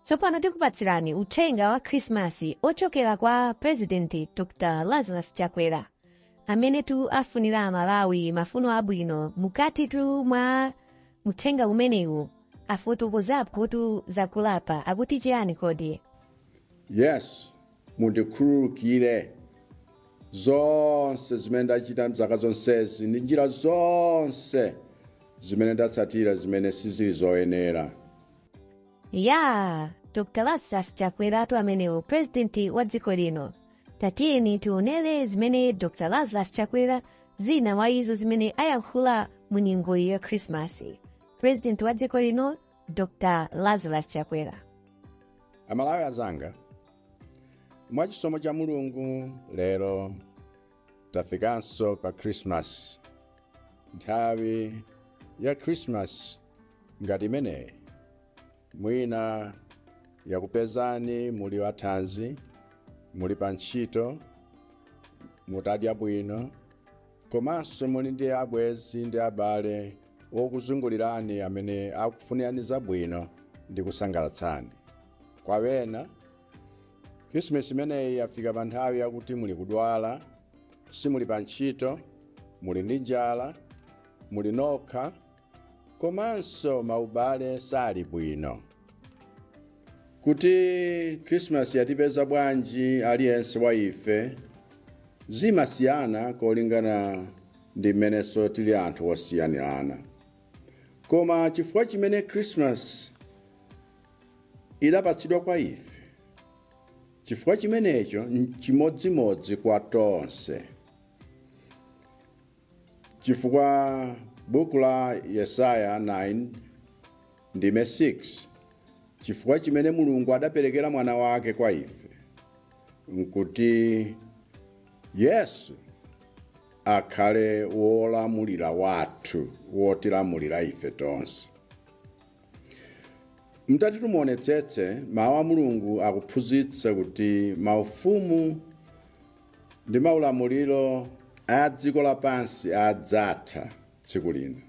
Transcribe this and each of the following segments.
tsopano tikupatsirani uthenga wa khrisimasi ochokera kwa purezidenti dr lazarus chakwera amene tu afunira amalawi mafuno abwino mukati tu mwa uthenga umenewu afotokozapo tu zakulapa akuti chiyani kodi Mundikhululukire zonse zimene ndachita m'zaka zonsezi ndi njira zonse zimene ndatsatira zimene sizili zoyenera. Yaa! Dr Lazarus Chakweratu amenewo pulezidenti wa dziko lino. Tatiyeni tionere zimene Dr Lazarus Chakwera zina mwa izo zimene ayankhula mu nyengo ya Khrisimasi. Pulezidenti wa dziko lino dr lazarus chakwera amalawi azanga mwa chisomo cha mulungu lero tafikanso pa krismasi nthawi ya krismasi ngati imeneyi mwina yakupezani muli wathanzi muli pa ntchito mutadya bwino Komanso muli ndi abwenzi ndi abale okuzungulirani amene akufunirani zabwino ndi kusangalatsani. Kwa ena, Khrisimisi imeneyi yafika pa nthawi yakuti muli kudwala, simuli pa ntchito, muli ndi njala, muli nokha, komanso maubale sali bwino kuti khrisimasi yatipeza bwanji aliyense wa ife zimasiyana kolingana ndi mmenenso tili anthu osiyanirana koma chifukwa chimene khrisimasi idapatsidwa kwa ife chifukwa chimenecho nchimodzimodzi kwa tonse Chifukwa buku la Yesaya 9 ndime 6 Chifukwa chimene Mulungu adapelekera Mwana wake kwa ife, nkuti Yesu akhale wolamulira wathu, wotilamulira ife tonse. Mutati tumuonetsetse, Mawu a Mulungu akuphunzitsa kuti maufumu ndi maulamuliro a dziko lapansi adzatha tsiku lina.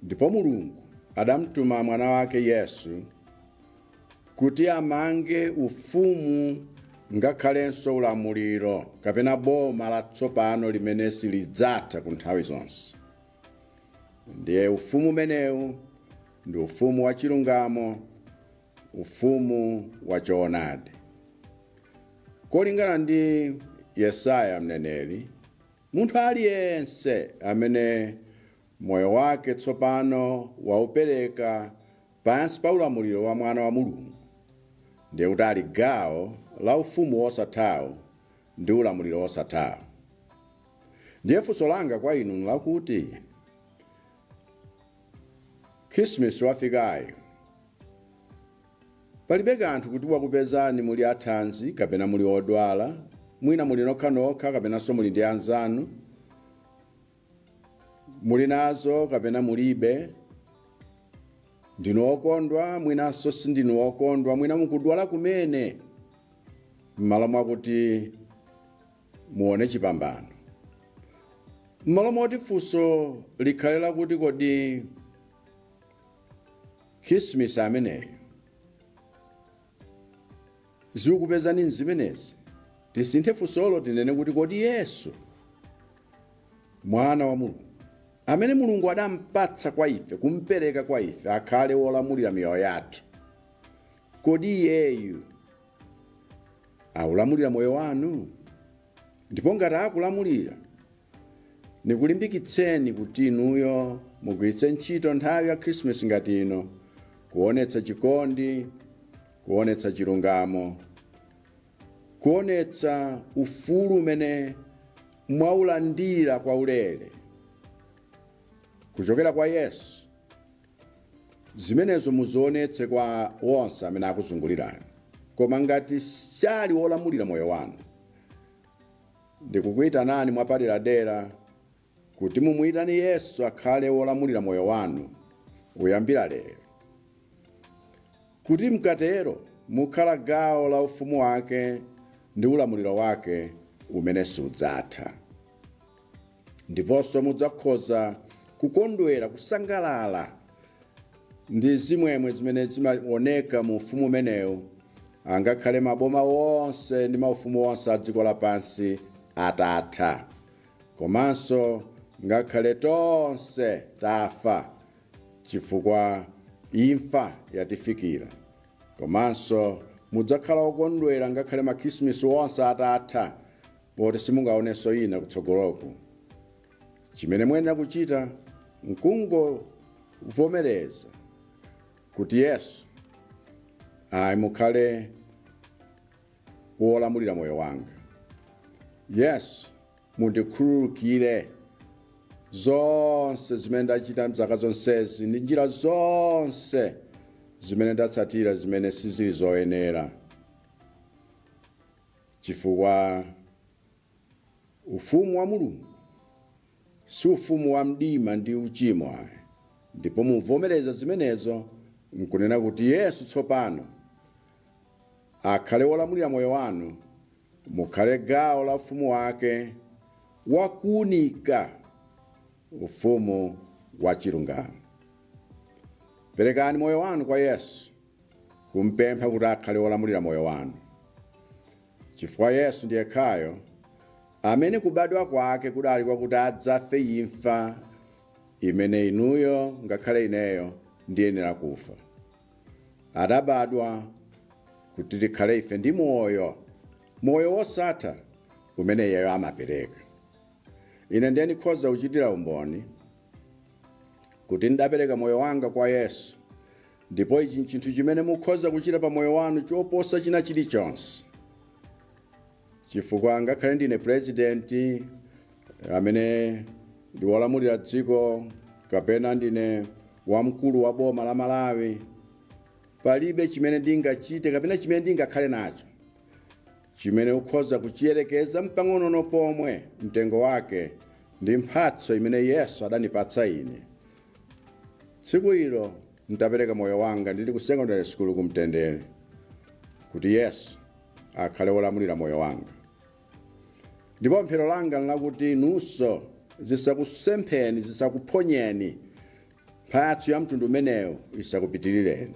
Ndipo Mulungu adamtuma Mwana wake Yesu kuti amange ufumu ngakhalenso ulamuliro kapena boma latsopano limene silidzatha ku nthawi zonse. Ndiye ufumu umenewu ndi ufumu wa chilungamo Ufumu wa choonadi. Kolingana ndi Yesaya mneneri, munthu aliyense amene moyo wake tsopano waupereka pansi pa ulamuliro wa Mwana wa Mulungu ndiye kuti ali gawo la Ufumu wosathawo ndi ulamuliro wosathawo. Ndiye funso langa kwa inu nlakuti, Khirisimisi wafikayo, Palibe kanthu kuti wakupezani muli athanzi kapena muli odwala, mwina muli nokhanokha kapenanso muli ndi anzanu, muli nazo kapena mulibe, ndinu okondwa mwinanso sindinu okondwa, mwina mukudwala kumene, m'malo mwakuti muone chipambano. M'malo moti funso likhale lakuti kodi. Khirisimisi ameneyo zikupezani m'zimenezi, tisinthe funsolo tinene kuti kodi Yesu, Mwana wa Mulungu, amene Mulungu adampatsa kwa ife, kumpereka kwa ife akhale wolamulira miyoyo yathu, kodi Iyeyu aulamulira moyo wanu? Ndipo ngati akulamulira, Nikulimbikitseni kuti inuyo mugwiritse ntchito nthawi ya Khrisimisi ngati ino kuonetsa chikondi, kuonetsa chilungamo, kuonetsa ufulu umene mwaulandira kwaulere kuchokera kwa Yesu. Zimenezo muzionetse kwa onse amene akuzungulirani. Koma ngati sali wolamulira moyo wanu, Ndikukuitanani mwapaderadera kuti mumuitane Yesu akhale wolamulira moyo wanu kuyambira lero. Kuti mkatero mukhala gawo la ufumu wake ndi ulamuliro wake umene sudzatha. Ndiponso mudzakhoza kukondwera, kusangalala ndi zimwemwe zimene zimaoneka mu ufumu umenewu angakhale maboma onse ndi maufumu onse a dziko lapansi atatha komanso ngakhale tonse tafa chifukwa imfa yatifikira komanso mudzakhala okondwera angakhale makhirisimisi onse atatha poti simungaonenso ina kutsogoloku Chimene muyenera kuchita n'kungovomereza kuti, Yesu, ayi, mukhale wolamulira moyo wanga. Yesu, mundikhululukire zonse zimene ndachita m'zaka zonsezi ndi njira zonse zimene ndatsatira zimene sizili zoyenera chifukwa Ufumu wa Mulungu si ufumu wa mdima ndi uchimo ayi, ndipo muvomereza zimenezo n'kunena kuti Yesu tsopano akhale Wolamulira moyo wanu, mukhale gawo la Ufumu wake wa kuunika, Ufumu wa chilungamo. Perekani moyo wanu kwa Yesu, kum'pempha kuti akhale Wolamulira moyo wanu. Chifukwa Yesu ndiye yekhayo amene kubadwa kwake kudali kwakuti adzafe imfa imene inuyo ngakhale ineyo ndiyenera kufa. Adabadwa kuti tikhale ife ndi moyo, moyo wosatha umene iyeyo amapereka. Ine ndiye ndikhoza kuchitira umboni kuti ndidapereka moyo wanga kwa Yesu Ndipo ichi chinthu chimene mukhoza kuchita pa moyo wanu choposa china chilichonse. Chifukwa ngakhale ndine pulezidenti amene ndi wolamulira dziko kapena ndine wamkulu wa boma la Malawi, palibe chimene ndingachite kapena chimene ndingakhale nacho chimene ukhoza kuchiyerekeza mpang'onono pomwe mtengo wake ndi mphatso imene Yesu adanipatsa ine Tsiku ilo ntapereka moyo wanga ndili ku secondary school ku Mtendere kuti Yesu akhale wolamulira moyo wanga. Ndipo pemphero langa n'lakuti inunso zisakusempheni, zisakuphonyeni, mphatso ya mtundu umenewo isakupitirireni.